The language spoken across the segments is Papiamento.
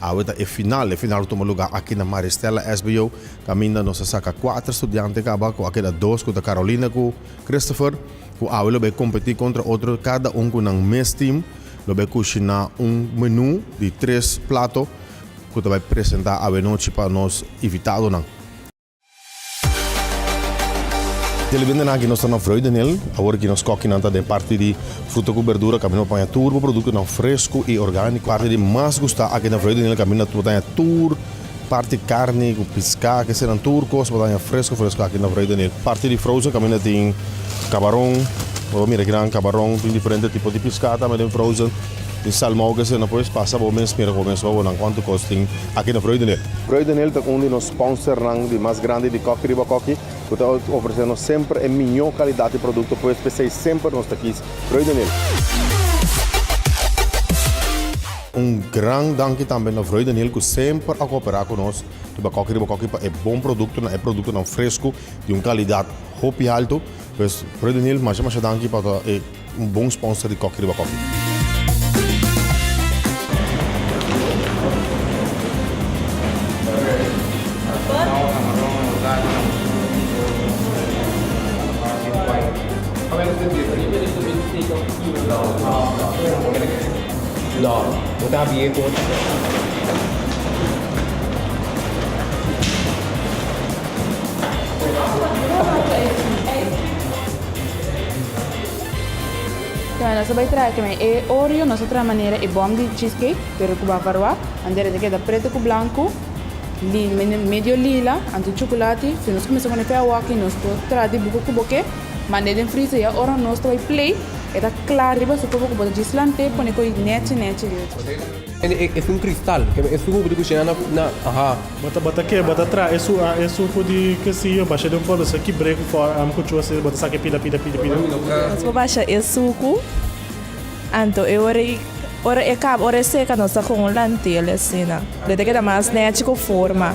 Awe ta e final. E final lo tuma luga aki na Maria Stella SBO. Caminda nos a saca cuater studiante caba cu a keda dos cu ta Carolina cu Christopher cu awe lo bay competi contra otro cada un cu nan mes team lo bay cushina un menu di tres plato cu ta bay presenta awe nochi pa nos invitadonan. Telebendenan ki nos ta na Vreugdenhil, awor ki nos kokinan ta den parti di fruta ku berdura kaminda pa taña tur bo produktonan fresku i orgániko. Parti di mas gustá aki na Vreugdenhil kaminda bo taña tur parti karni ku piská, kesenan tur kos bo taña fresku fresku aki na Vreugdenhil. Parti di frozen kaminda tin kabaron, bo mira aki nan kabaron, tin diferente tipo di piská tambe den frozen, tin salmou kesenan pues pasa bo mes mira ku bo mes wou nan kuantu kos tin aki na Vreugdenhil. Vreugdenhil ta un di nos. Sponsòrnan di mas grandi di Kòki Riba Kòki ku ta ofresé nos semper e mihó kalidat di produkto pues p'esei semper nos ta kis Rui de Neel. Un gran danki tambe na Rui de Neel ku semper a kooperá ku nos riba Kòki Riba Kòki pa e bon produktonan, e produktonan fresku di un kalidat hopi haltu. Pues Rui de Neel masha masha danki pa e. Un bon sponsor di Koffie Riba Koffie. Bueno nos a bai traha kimen e oreo nos a traha manera e bom di cheese cake pero cu ba varoa bandera e ta keda preto cu blanco li medio lila anto chocolate si nos cuminsa pone fe awor aki nos por traha di buco cu bo ke mande den freezer ya ora nos ta bai play e ta cla riba su propio cu bo ta djis lante pone coy nechi nechi. Es un cristal. Es su hubo di cushena na na aha. Bo ta ke bo ta traha e su e su cu di ke si yo basha den un poloso ki bree cu for am cu chua si bo ta sake pida pida pida pida. Nos bo basha e sucu anto e ora i ora e caba ora e seca nos ta coge un lantel asina. Lo ta keda mas nechi cu forma.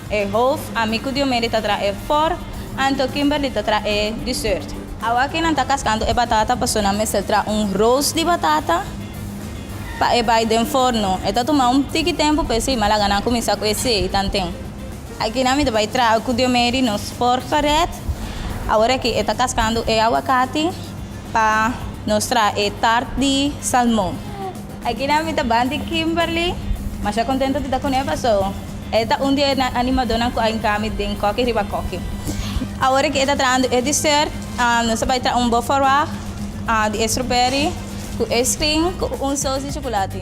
E hoof, a mi cu Diomede ta traha e for, anto Kimberly ta traha e dessert. Awa que nan ta cascando e batata paso nan mester traha un roos di batata pa e bay den forno. E ta tuma un tiki tempo pa e sey, ma laga nan cuminsa cu e sey tanten. Aki nan mi ta bay traha cu Diomede nos for gered. Awor aki e ta cascando e aguacate pa nos traha e taart di salmon. Akinan mi ta ban di Kimberly. Masha contento di ta cune paso e ta un di e animadornan cu a enca mi den coki riba coki. Awor cu e ta trahando e dessert nos ta bay traha un bo forwag di e strawberry cu ice cream cu un sous di chocolate.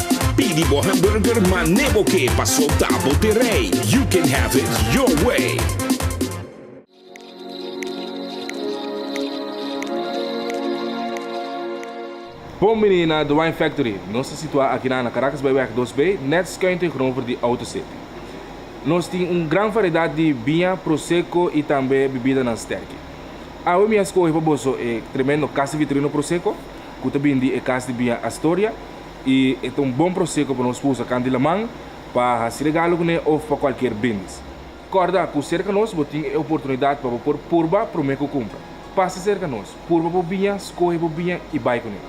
Pidi bo hamburger ma ne bo ke pa solta bo te rey. You can have it your way. Bon bini na The Wine Factory. Nos ta situá akinan na Caracas bai wèg dos bai, nèt skuin tegenover di Autocity. Nos tin un gran variedat di biña, prosecco i tambe bibidanan sterki. Awe mi a skohe pa boso e tremendo Casa Vitorino Prosecco, ku ta bindi e kas di biña Astoria, i e ta un bon proseko pa nos usa kan di laman pa hasi regalo kuné òf pa kualkier bendis. Kòrda ku serka nos bo tin e oportunidat pa bo por purba promé ku kumpra. Pasa serka nos, purba bo biña, skohe bo biña i bai kuné.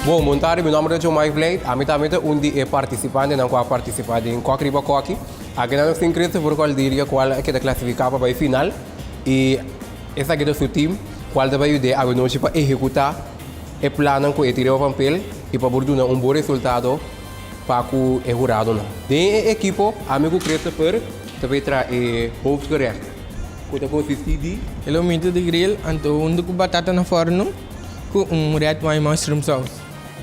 Bon, bon tarde, mi nòmber ta Jomai Vlijt. Ami tambe ta un di e partisipantenan ku a partisipá den Kòk Riba Kòki. Aki nan nos tin Christopher Cordelia, kual a keda klasifiká pa bai final. I. Esaki ta su tim, kual ta bai yud'é awe-nochi pa ehekutá e plannan ku e tira ova papel i pa por duna un bon resultado pa ku e huradonan. Den e ekipo, ami ku Krista Pur ta bai traha e hoofdgerecht, ku ta konsistí di. E lomito di gril, anto huntu ku batata na forno, ku un red wine mushroom sous.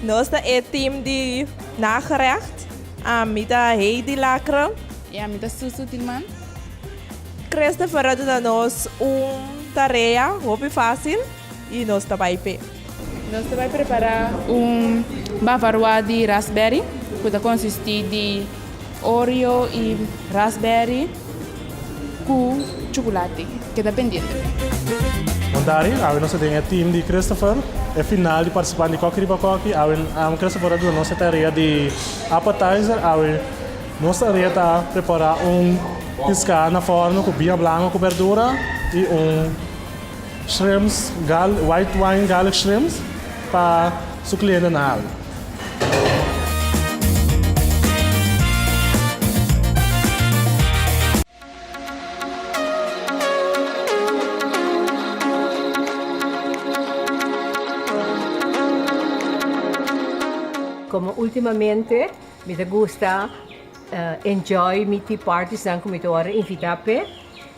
Nos ta e tim di nagerecht. Ami ta Heidi Lacre. I ami ta Susu Tilman. Christopher a duna nos un tarea hopi fácil i nos ta bai p'e. Nos ta bai prepará un bavarois di raspberry ku ta konsistí di oreo i raspberry ku chocolate. Keda pendiente. Montari, Awe nos ta den e team di Christopher, e final di participante di Koki Riba Koki. Awe Christopher a duna nos e tarea di appetizer. Awe. Nos ta reta prepará un piská na fòrno ku biña blanko ku bèrdura i un shrimps gal white wine garlic shrimps pa su kliente na hal. Komo ultimamente. Mi ta gusta enjoy mi tea parties nan ku mi ta wòrdu invitá p'e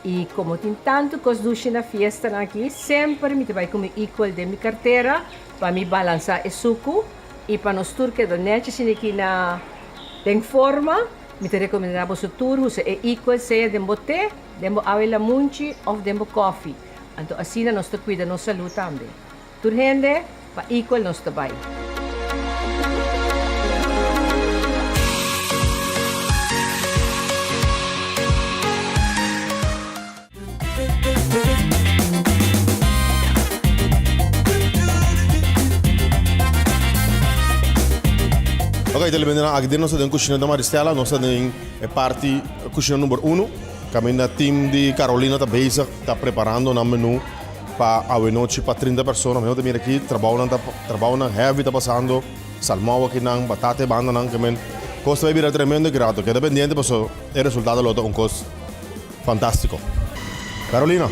i komo tin tantu kos dushi na fiestanan aki semper mi ta bai ku mi equal den mi kartera pa mi balansá e suku i pa nos tur keda nèt shishini aki na den forma. Mi ta rekomendá boso tur usa e equal sea den bo te, den bo awe lamunchi òf den bo kòfi anto asina nos ta kuida nos salú tambe. Tur hende, pa Equal nos ta bai. Ok ta lebe nan aki den nos ta den kushina di Maristella nos ta den e parti kushina number uno kaminda team di Carolina ta bezig ta preparando nan menu. Pa awenochi pa trinta persona, mi no ta mira aki, trabounan ta, trabounan heavy ta pasando, salmou akinan, batata e bandanan, ke men, kos ta bay bira tremendo e grato, keda pendiente paso e resultado lo ta un kos fantastico. Carolina!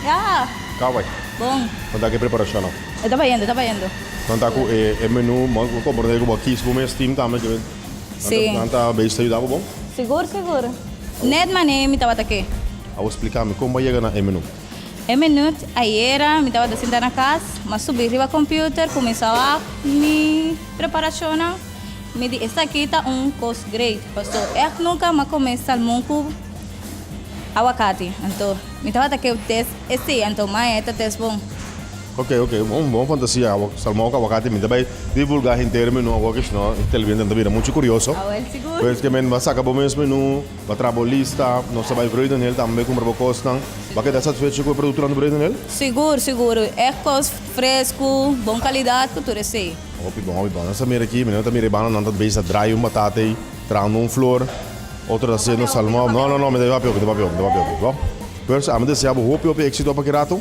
Ya! Ka bay? Bon. Kon ta ki e preparashonnan? E ta bayendo, e ta bayendo. Nan ta ku e menu, bo a komprende ku bo a kis bo mes team tambe, ke men, Si. nan ta beis ta yuda bo bon? Sigur, sigur. Net manera mi tabata ke. Awor splika mi, kon bo a yega na e menu? E minut ayera mi tabata sinta na cas, ma subi riba computer cuminsaba mi preparacionnan. Mi di esaki ta un cos great, paso ec nunca m'a come salmon cu aguacati. Anto mi tabata keu test esi, anto mai e ta test bon. Ok, ok, un bon fantasia, salmon cu aguacati. Mi ta bay divulga henter e menu awor, kishno e televidente nan ta bira mucho curioso. Awel sigur. Pues kimen m'a saca bo mesmo e nu. Bo a traha bo lista, nos ta bai vrede n'el tambe, cumpra bo cosnan. Bo a keda satisfecho cu e productonan ta vrede n'el? Sigur, sigur. E cos frescu, bon calidad cu tur esey. Hopi bon, hopi bon. Nos ta mira aki, mi no ta mira e bananan ta bes ta draai un batata ey, trahando un flor, otro ta haciendo salmon. No, no, no, mi ta bai papia hopi, mi ta bai papia hopi, mi ta bai papia hopi. Bo, pers, ami desea bo hopi, hopi exito pa ki rato.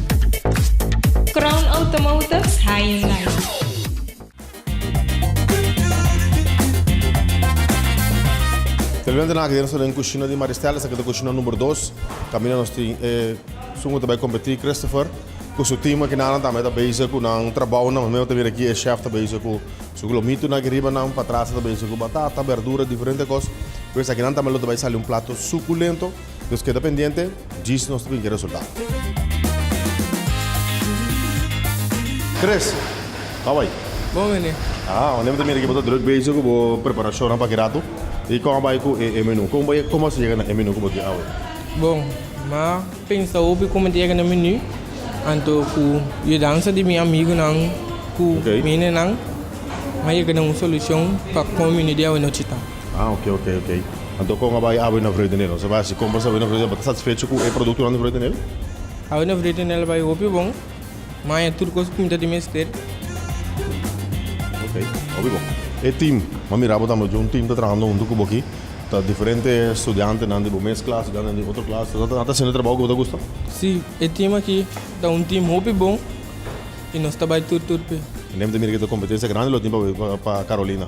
Crown Automotives Hyundai. Te levanta na aki den nos ta den kushina di Maria Estela, esaki ta kushina number dos. Kaminda nos tin e sungu ta bai kompetí Christopher ku su team aki nan tambe ta bezig ku nan trabounan. Mihua ta mira aki e chef ta bezig ku su glomitu aki riba nan, patrasa ta bezig ku batata, berdura, diferente kos. Pues aki nan tambe lo ta bai sali un plato sukulento. Nos keda pendiente, djis nos ta bin ke resultado. Chris, how are you? Bon mene. Ah, wanneer te mira que bo druk bezig ku bo preparacion pa ki rato. I kon bai ku e menu. Kon bai kon mas llega na e menu ku bo tin awe. Bon, ma pensa hopi kon te llega na menu. Anto ku yudansa di mi amigunan ku mine nan ma llega na un solucion pa kon menu di awe no chita. Ah ok ok ok anto kon a bai Avenue Vredenel? Nos a bai hasi compras Avenue Vredenel? Bo ta satisfecho cu e productonan di Vredenel? Avenue Vredenel a bai hopi bon, maya tur cos cu mi ta di mester. Ok, hopi bon. E team, bo a mira bo tambe cu un team ta trabahando hunto cu bo aki, ta diferente studiantenan di bo mes klas, studiantenan di otro klas, nan ta haciendo e trabaho cu bo ta gusta? Si, e team aki ta un team hopi bon y nos ta bai tur tur p'e. Neem ta mira cu ta competencia grandi lo tin pa Carolina.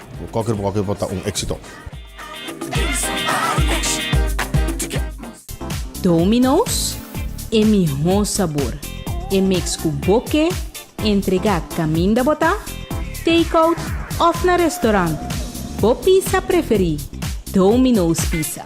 Bo koker bo koker bo ta un exito. Domino's, e mihó sabor, e mix ku bo ke entregá kaminda bo ta take-out òf na restorant, bo pisa preferí, Domino's Pizza.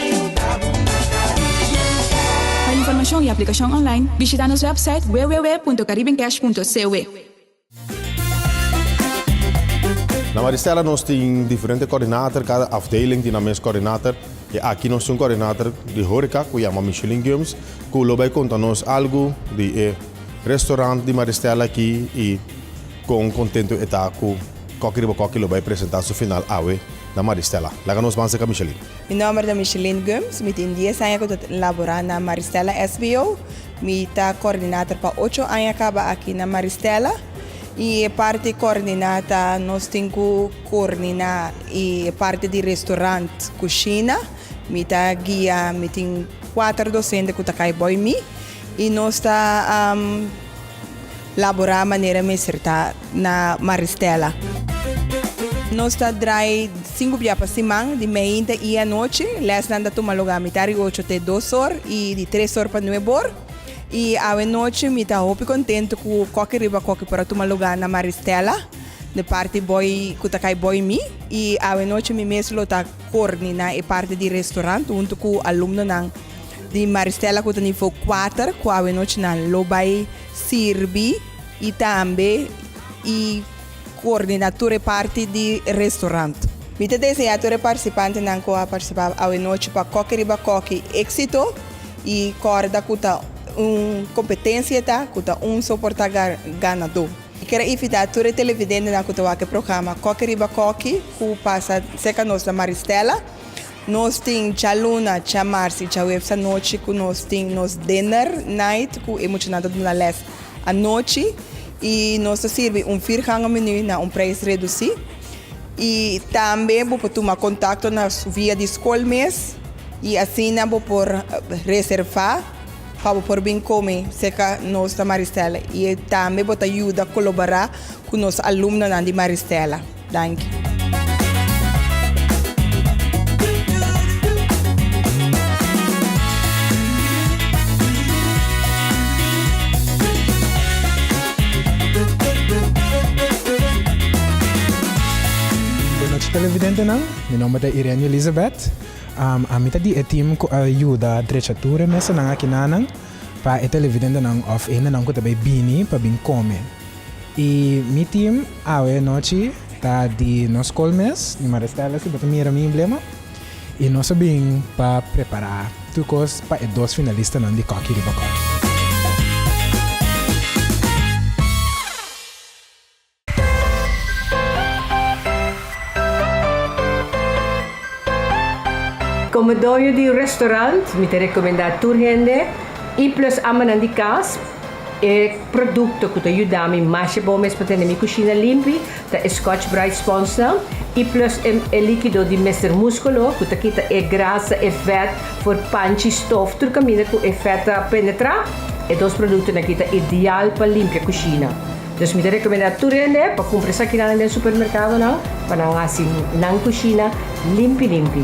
Pa informashon i aplikashon online, bishita nos wèpsait www.caribencash.cwe. Na Maristella nos tin diferente coördinator, cada afdeling tin nan mes coördinator. Y aki nos tin un coördinator di horeca cu yama Micheline Giums cu lo bay conta nos algo di e restaurant di Maristella aki y con contento e ta cu coki riba coki lo bay presenta su final awe na Maristella. Laga nos ban serca Micheline. Mi nomber ta Micheline Gumbs, mi tin dies aña cu ta labora na Maristella SBO. Mi ta coordinator pa ocho aña caba aki na Maristella y e parti coordina ta nos tin cu coordina e parti di restaurant, cushina, mi ta guia, mi tin cuater docente cu ta cay boy mi y nos ta. laborá manera mester ta na Maristella. Nos ta drai sinku bia pa siman, di meiinta i anochi. Lèsnan ta tuma lugá mitar di ocho te dos or i di tres or pa nueb or. I awe nochi mi ta hopi kontentu ku koki riba koki por a tuma lugá na Maristella di parti boi ku ta kai boi mi. I awe nochi mi mes lo ta korni na e parti di restorant huntu ku alumnonan. Di Maristela ku ta nivo kuater ku awenochinan lo bai sirbi i tambe i koordina tur e parti di restorant. Mi ta deseá tur e partisipantenan ku a partisipá awenochi pa koki riba koki éksito i kòrda ku ta un kompetensia ta ku ta un soportá ganadó. Mi kere invitá tur e televidentenan ku ta wak e programa koki riba koki ku pasa serka nos na Maristela Nos tin Tja Luna, Tja Mars y Tja Waves anochi cu nos tin nos Dinner Night cu e muchanan ta duna les anochi y nos ta sirbi un vierganga menu na un prijs reduci y tambe bo por tuma contacto na via di scol mes y asina bo por reserva pa bo por bin come cerca nos na Maristela y tambe bo ta yuda colobora cu nos alumnonan di Maristela. Danki. Buenochi televidentenan, mi nomber ta Irene Elizabeth. Ami ta di e team cu a yuda drecha tur e mesanan aki nanan pa e televidentenan of hendenan cu ta bay bini pa bin come. Y mi team awe nochi ta di nos school mes, di Maristella si bo ta mira mi emblema. Y nos a bin pa prepara tur cos pa e dos finalistanan di Cocky Riba Cocky. Como doño di un restaurant mi ta recomenda tur hende E plus amanan di cas. E produkto ku ta yuda mi masha bon mes pa tene mi kushina limpi ta e Scotch Brite sponsnan i plus e likido di Mister Muskolo ku ta kita e grasa, e vèt for panchi, stof, tur kaminda ku e vèt ta penetrá. E dos produktonan aki ta ideal pa limpia kushina. Dus mi ta rekomendá tur hende pa kumpra esakinan den supermerkadonan pa nan hasi nan kushina limpi limpi.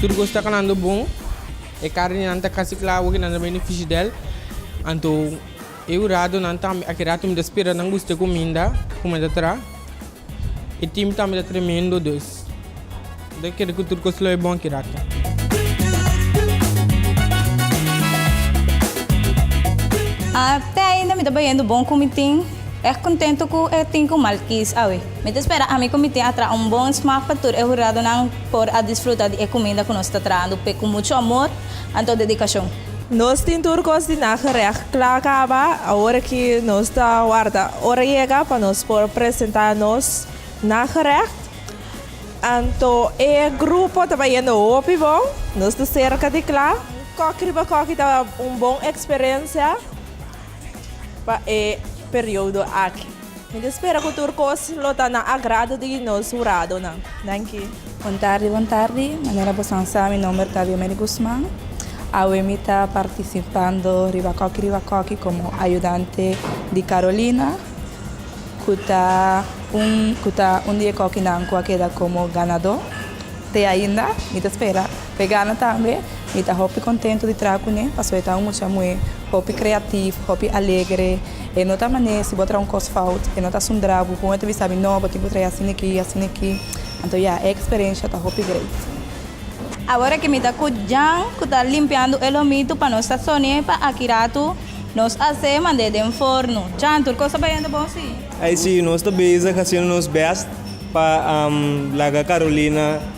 Tur cos ta calando bon. E carnenan ta casi cla awo cu nan ta beni fishidel. Anto e un rato nan ta aki rato mi ta spera nan guste cuminda cu me ta tra. E team tambe ta tremendo dus mi ta kere cu tur cos lo e bon aki rato. Te ainda mi ta bayendo bon cu mi tin. Erg contento cu e tin cu mal kies awe. Mi ta spera ami ku mi tin a traha un bon smak pa tur e huradonan por a disfruta di e kuminda ku nos ta trahando p'e ku muchu amor anto dedikashon. Nos tin tur kos di na gerècht kla kaba awor aki nos ta warda ora yega pa nos por presentá nos na gerècht anto e grupo ta bayendo hopi bon nos ta serka di kla kòk riba kòk i ta un bon eksperensia pa e periodo aki. Mi ta spera ku tur kos lo ta na agrado di nos huradonan. Danki. Bon tardi, bon tardi. Manera bosan sa, mi nomber ta Diomery Guzman. Awe mi ta partisipando riba koki riba koki komo ayudante di Carolina, ku ta un ku ta un di e kokinan ku a keda komo ganadó. Te ainda, mi ta spera. Vegana tambe mi ta hopi contento di traha cune pasobra e ta un mucha muhe hopi creativo, hopi alegre, e no ta mane si bo traha un cos fout e no ta sundra bo con e ta bisa mi no bo tin cu traha asina aki, asina aki, anto ya e experencia ta hopi great. Awor cu mi ta cu Jan cu ta limpiando e lomitu pa nos sazone pa aki rato nos a hace mande den forno, Jan tur cos ta bayendo bon si? Ay si, nos ta bezig haciendo nos best pa laga Carolina.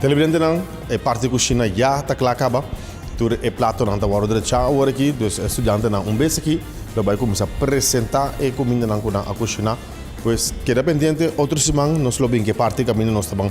Televidentenan, e parti kushina ya ta kla kaba. Tur e platonan ta wòrdu drechá awor aki. Dus e studiantenan un bes aki lo bai kuminsá presentá e kumindanan ku nan a kushiná. Pues keda pendiente, otro siman nos lo bin ku e parti kaminda nos ta ban